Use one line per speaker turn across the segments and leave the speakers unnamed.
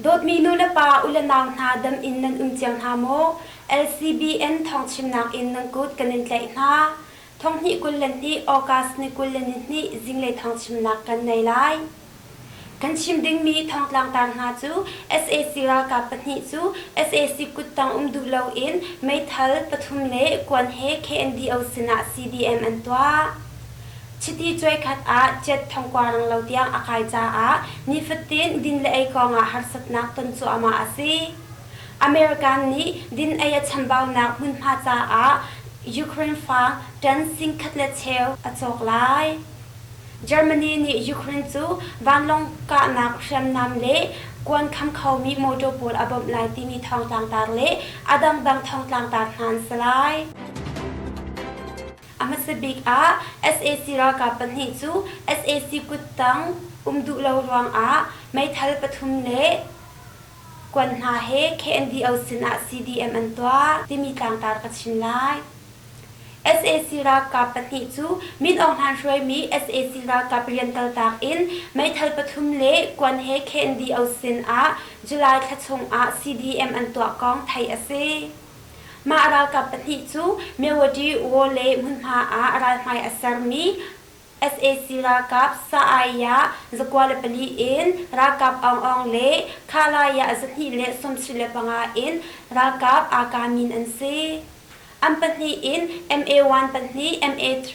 Dawtmi nu le pa u le nau hna dam in nan um cio hna maw? LCBN thawngchimnak in nan kut kan in tlaih hna. Thonghnih kul le hnih August ni kul le ni hnih zinglei thawngchimnak kan nei lai. Kan chim dingmi Thongtlang tar hna cu sac ralkap pahnih cu sac kut tang um duh loin meithal pathum le kuan he KNDO sinah CDM an tuah. Chiti cuaikhat ah Ciat Thongkua Ranglo tiang a kai caah nifatin din le ei kongah harsatnak ton cuahmah a si. American nih din ei a chambaunak hmunhma caah Ukraine fa tan singkhat le cheu a cawk lai. Germany nih Ukraine cu vanlawng kahnak hriamnam le kuan kham khomi motor pawl a bawmh lai timi thawngtlangtar le a dangdang thawngtlangtar hna an si lai. A hmasa bik ah sac ralkap pahnih cu sac kuttang um duh lo ruangah meithal pathum le kuan hna he KNDO sinah CDM an tuah timi tlangtar ka chim lai. sac ralkap pahnih cu Min Aung Hlaing hruaimi sac ralkap rian kaltak in meithal pathum le kuan he KNDO sinah July thla chungah CDM an tuah kong theih a si. Mah ralkap pahnih cu Mewadi Wo le hmunhma ah ralhmai a sermi sac ralkap sa-ai ah zakua le pali in ralkap aung le khalai ah zahnih le sawmsih le panga in ralkap aa kamin an si. An pahnih in MA1 pahnih, MA3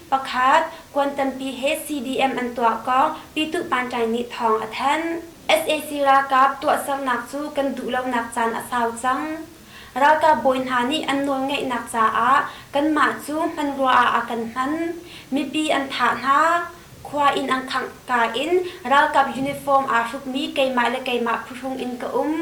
pakhat kuan tampi he CDM an tuah kong Pyituh Panṭai nih thawng a thanh. Sac ralkap tuahsernak cu kan duh lonak caan a sau cang. Ralkap bawi hna nih an nawlngeihnak caah kanmah cu hmanrua ah a kan hman. Mipi an thah hna. Khua inn an khangka in ralkap uniform aa hrukmi keimah le keimah phuhrung in ka um.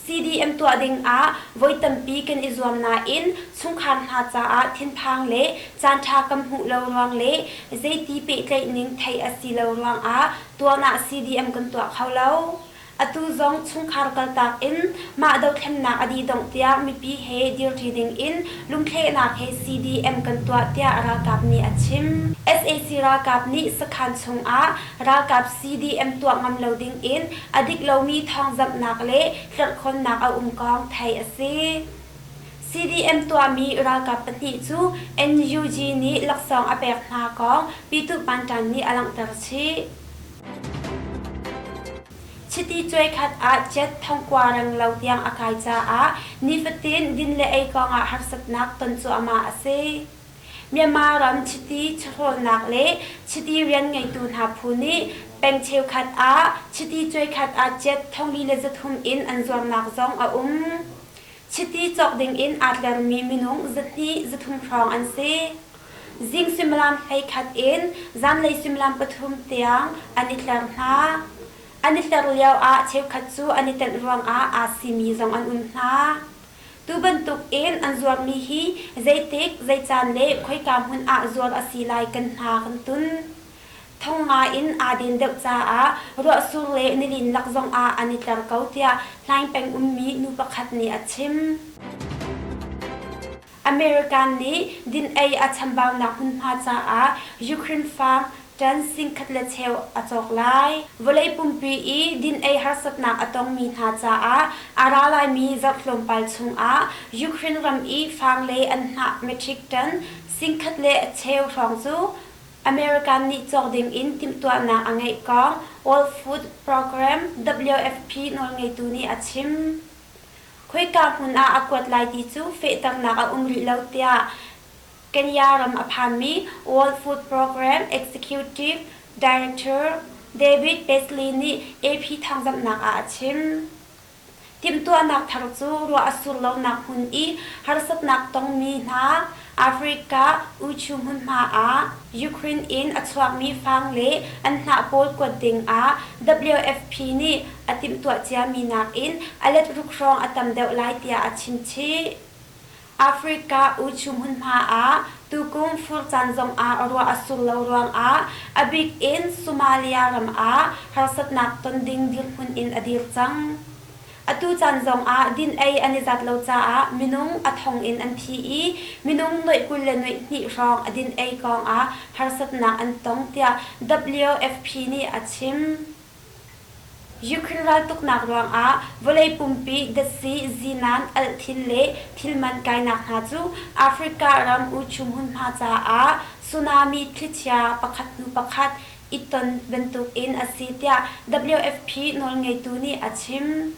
CDM tuah dingah voi tampi kan i zuam nain chungkhar hna caah thinphang le caanṭha kan hmuh lo ruang le zeiti pehtlaih ning theih a si lo ruangah tuan ah CDM kan tuah kho lo. Atu zong chungkhar kaltak in mah dothlennak a dih-dongh tiah mipi he dirṭi dingin lungthlehnak he CDM kan tuah tiah ralkap nih a chim. Sac ralkap nih sakhan chungah ralkap CDM tuah ngam lo dingin a dik lomi thawngzamhnak le tlerhkhawnnak a um kong theih a si. CDM tuahmi ralkap pahnih cu NUG nih laksawng a pek hna kong Pyithu Panṭan nih a langhter chih. Chiti cuaikhat ah cet thongkua reng lo tiang a kai caah nifatin din le ei kongah harsatnak ton cuahmah a si. Myanmar ram chiti chawhlawlnak le chiti rian ngeitu hna phu nih peng cheukhat ah chiti cuaikhat ah cet thongli le zathum in an zuamnak zong a um. Chiti cawk dingin aa tlermi minung zahnih zathum hrawng an si. Zing suimilam hleikhat in zanlei suimilam pathum tiang an i tler hna. An i tler lioah cheukhat cu an i tenh ruangah aa simi zong an um hna. Tu bantukin an zuarmi hi zeitik, zeican le khoika hmun ah zuar a si lai kan hna kan tun. Thong ngaiin aa din deuh caah ruahsur le nilin lak zongah an i tleng ko tiah Hlaing peng ummi nu pakhat nih a chim. American nih din-ei a chambaunak hmunhma caah Ukraine farm ṭan singkhat le cheu a cawk lai. Vawlei pumpi i din-ei harsatnak a tongmi hna caah a ra laimi zarh tlawmpal chungah Ukraine ram i fang le an hnah metric ṭan singkhat le cheu hrawng cu American nih cawk dingin timhtuahnak a ngeih kong World Food Programme WFP nawlngeitu nih a chim. Khoika hmun ah a kuat lai ti cu fehternak a um rih lo tiah Kenya ram a phanmi World Food Program Executive Director David Paisley nih AP thangzamhnak ah a chim. Timhtuahnak thar cu ruah a sur lonak hmun i harsatnak tongmi hna Africa uchu hmunhma ah Ukraine in a chuakmi fang le an hnah pawl kuat dingah WFP nih a timhtuah ciami nakin a let ruk hrawng a tam deuh lai tiah a chimchih. Africa uchu hmunhma ah tukum furcan zongah ruah a sur lo ruangah a bik in Somalia ram ah harsatnak ton ding dirhmun in a dir cang. Atu caan zongah din-ei an i zat lo caah minung a thong in an thi i minung nuaih kul le nuaih hnih hrawng a din-ei kongah harsatnak an tong, tiah WFP nih a chim. Ukraine raltuknak ruangah vawlei pumpi datsi, zinan, alhthin le thilman kainak hna cu Africa ram uchum hmunhma caah tsunami thlichia pakhat hnu pakhat i ton bantukin a si tiah WFP nawlngeitu nih a chim.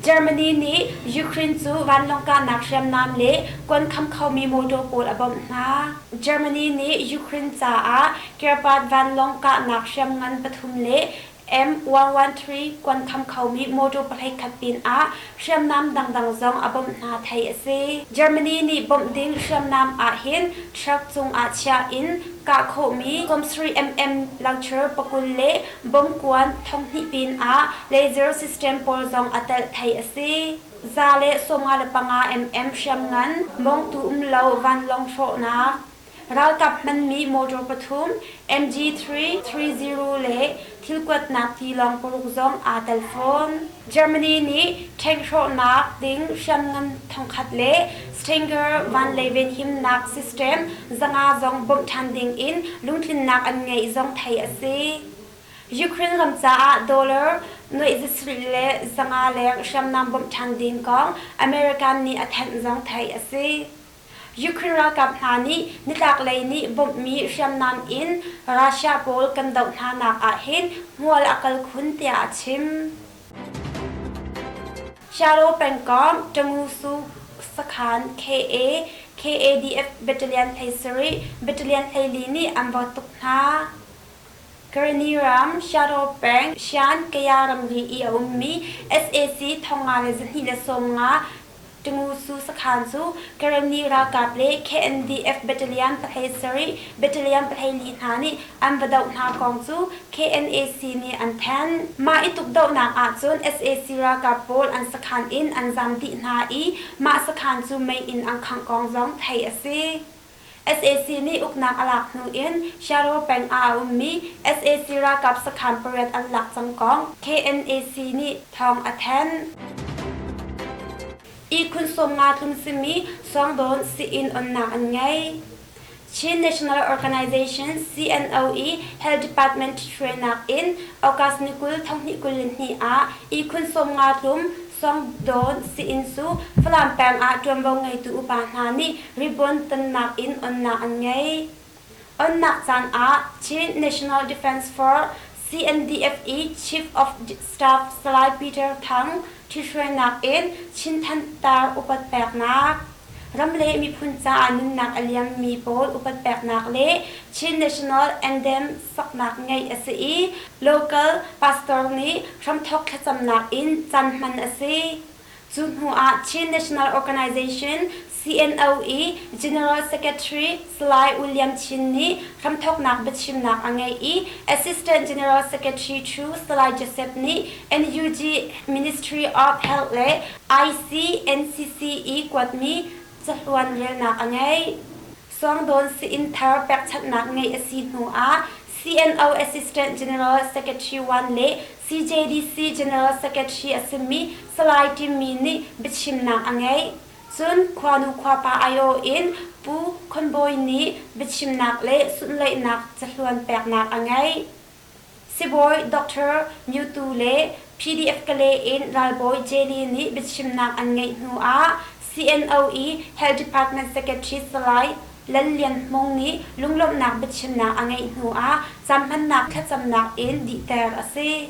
Germany nih Ukraine cu vanlawng kahnak hriamnam le kuan kham khomi motor pawl a bawmh hna. Germany nih Ukraine caah Kirpat vanlawng kahnak hriamngan pathum le M113 kuan kham khomi motor pahlei khat pinah Hriamnam dangdang zong a bawmh hna thei a si. Germany nih bawmh ding hriamnam ahhin truck cungah chiah in kah khawhmi Komsri MM Laucher pakul le bomkuan thawnghnih pin ah laser system pawl zong a telh thei a si. Za le sawmnga le panga mm hriamngan, mawngtu um lo vanlawng hrawhnak, Ralkap hmanmi motor pathum MG3, 30 le thil kuatnak tilawng paruk zong aa tel fawn. Germany nih tank hrawhnak ding hriamngan thongkhat le Stinger van le venhimnak system zanga zong bawmh ṭhan ding in lungtlinnak an ngeih zong theih a si. Ukraine ram caah dollar nuaih zasarih le zanga leng hriamnam bawmh ṭhan ding kong American nih a thanh zong theih a si. Ukraine ralkap hna nih nitlaklei nih bawmhmi hriamnam in Russia pawl kan doh hnanak ahhin hmual a kal khun tiah a chim. Shadow pengkomh Tamusu sakhan KA KADF battalion hlei sarih battalion hleili nih an vawt tuk hna. Karani ram Shadow peng Shan Kaya ramri i a ummi SAC thong nga le zahnih le sawm nga Ṭimusu sakhaan cu Karenni ralkap le KNDF battalion pahlei sarih battalion pahlei li hna nih an va doh hna kong cu KNAC nih an thanh. Mah i tukdohnak ahcun sac ralkap pawl an sakhaan in an zam dih hna i mah sakhaan cu mei in an khangh kong zong theih a si. Sac nih uknak a lak hnu in Sharwa peng ah a ummi sac ralkap sakhan pariat an lak cang kong KNAC nih thawng a thanh. Ihkhun sawmnga tlung simi Sawngdawn sii-inn onnak an ngei. Chin National Organization CNO i Health Department hruainak in August ni kul thonghnih kul le hnih ah ihkhun sawmnga tlum Sawngdawn sii-inn cu Falam peng ah ṭuanvo ngeitu upa hna nih Ribuan tonnak in onnak an ngei. Onnak caan ah Chin National Defense Force CNDF i Chief of Staff Salai Peter Thang ṭhithruainak in Chinthanh tar upat peknak, ram le miphun caah nunnak a liammi pawl upat peknak le Chin National Anthem saknak ngeih a si i local pastor nih hramthawk thlacamnak in can hman a si. Cu hnuah Chin National Organization, CNO, i General Secretary Salai William Chin nih hramthawknak biachimnak a ngei i Assistant General Secretary Chu Salai Joseph nih NUG Ministry of Health le ICNCC i kuatmi cahluan relnak a ngei. Suangdawn sii-inn thar pekchanhnak ngeih a si hnu ah CNO Assistant General Secretary Wan le CJDC General Secretary a simi Salai Tim Mi nih biachimnak a ngeih. Cun khuanu khuapa aiawh in Pu Khon Bawi nih biachimnak le sunhleihnak cahluan peknak a ngeih. Sibawi Doctor Myu Tu le PDF Kale in Ralbawi Jenny nih biachimnak an ngeih hnuah CNO i Health Department Secretary Salai Lal Lian Hmung nih lunglawmhnak biachimnak a ngeih hnuah caanhmannak thlacamnak in dihter a si.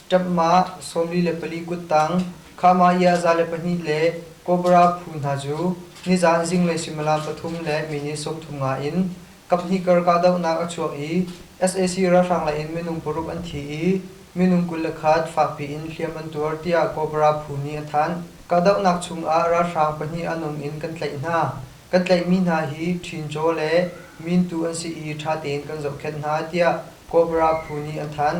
Ṭap mah, sawmli le pali kuttang, Kha-mah-iah-za le pahnih le kobra phu hna cu nizan zinglei suimilam pathum le minit sawmthum nga in kaphnih kar kahdohnak a chuak i sac ralhrang lei in minung paruk an thi i minung kul le khat fakpi in hliam an tuar tiah kobra phu nih a thanh. Kahdohnak chungah ralhrang pahnih an um in kan tlaih hna. Kan tlaihmi hna hi ṭhincaw le mintu an si i ṭha tein kan zohkhenh hna tiah kobra phu nih an thanh.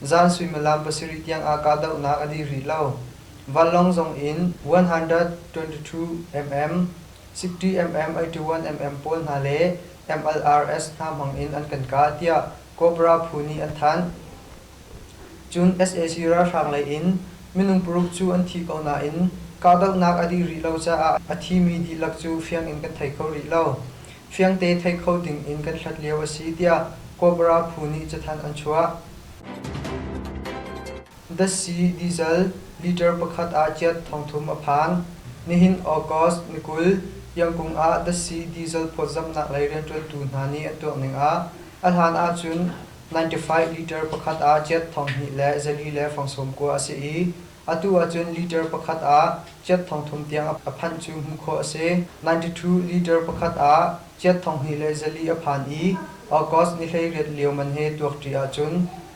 Zan suimilam pasarih tiang ah kahdohnak a dih rih lo. Vanlawng zong in 122mm, 60mm, 81mm pawl hna le MLRS hna hmang in an kan kah, tiah Cobra phu nih an thanh. Cun sac ralhrang lei in minung paruk cu an thi ko nain kahdohnak a dih rih lo caah a thimi dihlak cu fiang in kan thei kho rih lo. fiangte thei kho ding in kan hlat lio a si tiah Cobra phu nih cathanh an chuah. Dasi Diesel liter pakhat ah ciat thongthum a phan. Nihin August ni kul, Yangkung ah Dasi Diesel phawtzamhnak lei rianṭuantu hna nih an tuah ning ah a hlan ahcun 95 liter pakhat ah ciat thong hnih le zali le fang sawm kua a si i Atu ahcun liter pakhat ah ciat thong thum tiang a phanh cu hmuh khawh a si. 92 liter pakhat ah ciat thong hnih le zali a phan i August ni hleiriat lio man he tuak ṭi ahcun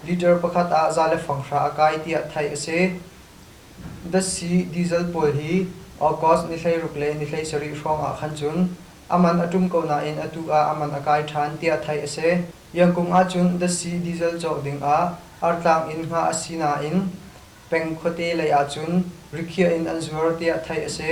liter pakhat ah za le fanghra a kai tiah theih a si. Datsi diesel pawl hi August ni hleiruk le ni hleisarih hrawngah khan cun a man a ṭum ko nain atu ah a man a kai ṭhan tiah theih a si. Iangkung ahcun datsi diesel cawk dingah artlang in ngah a si nain peng khuate lei ahcun rikhiah in an zuar tiah theih a si.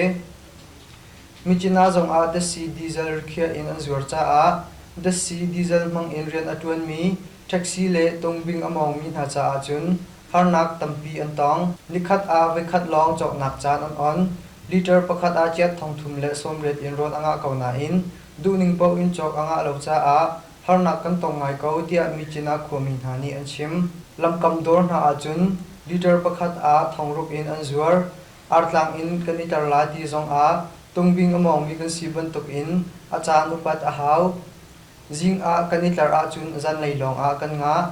Michina zongah Dasi diesel rikhiah in an zuar caah Dasi diesel hmang in rian a ṭuanmi taxi le tungbing a mawngmi hna caah cun harnak tampi an tong. Nikhat ah voikhat lawng cawknak caan an on. Liter pakhat ah ciat thong thum le sawmriat in rawl a ngah ko nain duhning paoh in cawk a ngah lo caah harnak kan tong ngai ko tiah Micin ah khuami hna nih an chim. Lamkam dawr hna ahcun leader pakhat ah thongruk in an zuar. Artlang in kan i tar lai ti zong ah tungbing a mawngmi kan si bantuk in a caan upat a hau. Zing ah kan i tlar ahcun zanlei lawng ah kan ngah.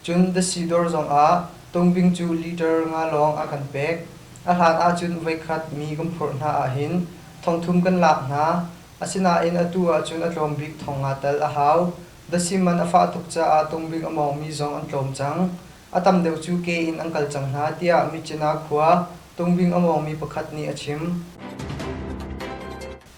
Cun Dasi dawr zong ah tungbing cu leader nga lawng a kan pek. A hlan ahcun voikhat mi kan phurh hna ahhin thongthum kan lak hna. Asinain atu ahcun a tlawm bik thong aa tel a hau. Dasim man a fah tuk caah tungbik a mawngmi zong an tlawm cang. A tam deuh cu ke in an kal cang hna, tiah Myitkyina khua tungbing a mawngmi pakhat nih a chim.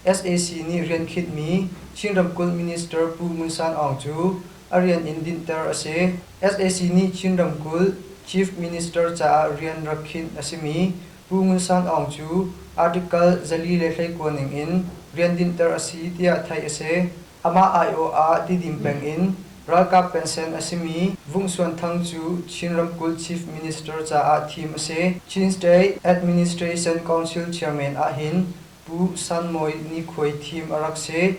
sac nih rian khitmi Chin ramkulh minister Pu Ngun San Aung cu a rian in dinhter a si. sac nih Chin ramkulh Chief Minister caah rian rak khinh a simi Pu Ngun Sang Aung cu article zali le hleikua ningin rian dinhter a si tiah theih a si. Amah aiawh ah tidim peng in ralkap pensen a simi Vung Suan Thang cu Chin ramkulh Chief Minister caah thim a si. Chin State Administration Council Chairman ahhin Pu San Mawi nikhuai thim a rak si.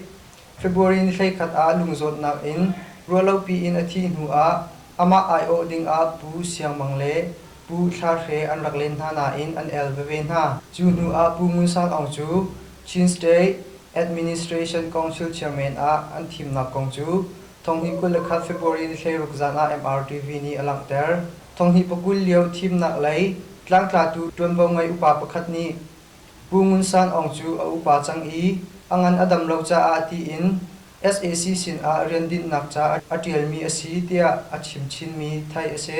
February ni hleikhat ah lungzawtnak in ruahlopi in a thih hnu ah amah aiawh dingah Pu Siang Mang le Pu Thlar Hre an rak len hna nain an el veve hna. Cu hnu ah Pu Ngun Sang Aung cu Chin State Administration Council Chairman ah an thimnak kong cu Thonghni kul le khat February ni hleiruk zan ah MRTV nih a langhter. Thonghni pakul lio thimnak lei tlangtlatu ṭuanvo ngei upa pakhat nih Pu Ngun Sang Aung cu a upa cang i a ngan a dam lo caah tiin sac sinah rian dinhnak ca a ṭialmi a si tiah a chim chinmi theih a si.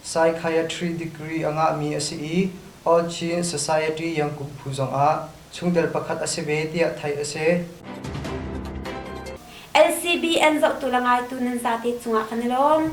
Psychiatry degree a ngahmi a si i All Chin Society Yangkum phu zongah chungtel pakhat a si ve tiah theih a si.
LCBN zohtu le ngaitu nan zate cungah kan i lawm.